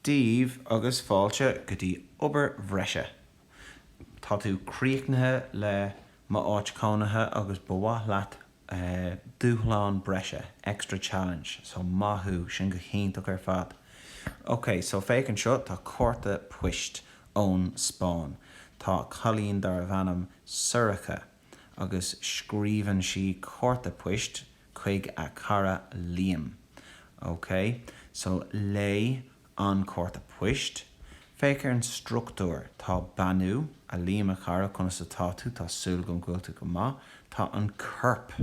daoibh agus fáilte go dtí obair bhreise. Tá tú críochnaithe le m'áit cónaithe agus ba mhaith leat dúshlán breise, extra challenge, so maith thú, sin go hiontach ar fad. Ok, so féach anseo, tá cárta poist ón Spáinn. Tá cailín darbh ainm Sorcha agus scríobhann sí cárta poist chuig a cara Liam. OK, so léigh an cárta poist. Féach ar an struchtúr. Tá beannú, A Liam, a chara, conas atá tú? Tá súil agam go bhfuil tú go maith. Tá an corp,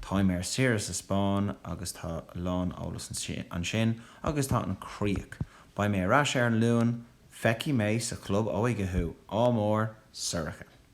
Táim ar saoire sa Spáinn agus tá a lán eolas ansin. Agus tá an críoch, Beidh mé ar ais ar an Luan, feicfidh mé sa chlub óige thú. Ádh mór, Sorcha.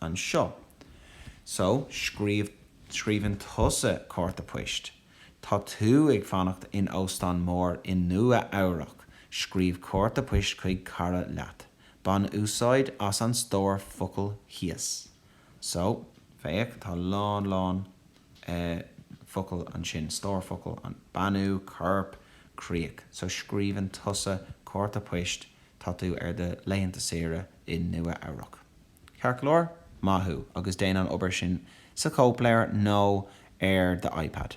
anseo. So, scríobh, scríobhann tusa cárta poist. Tá tú ag fanacht in óstán mór i Nua Eabhrac, scríobh cárta poist chuig cara leat. Bain úsáid as an stór focal thíos. So, féach, tá lán lán focal ansin, stór focal, an beannú, corp, críoch. So, scríobhann tusa cárta poist Tá tú ar do laethanta saoire i Nua Eabhrac, ceart go leor? Maith thú, agus déan an obair sin sa chóipleabhar nó ar d'iPad.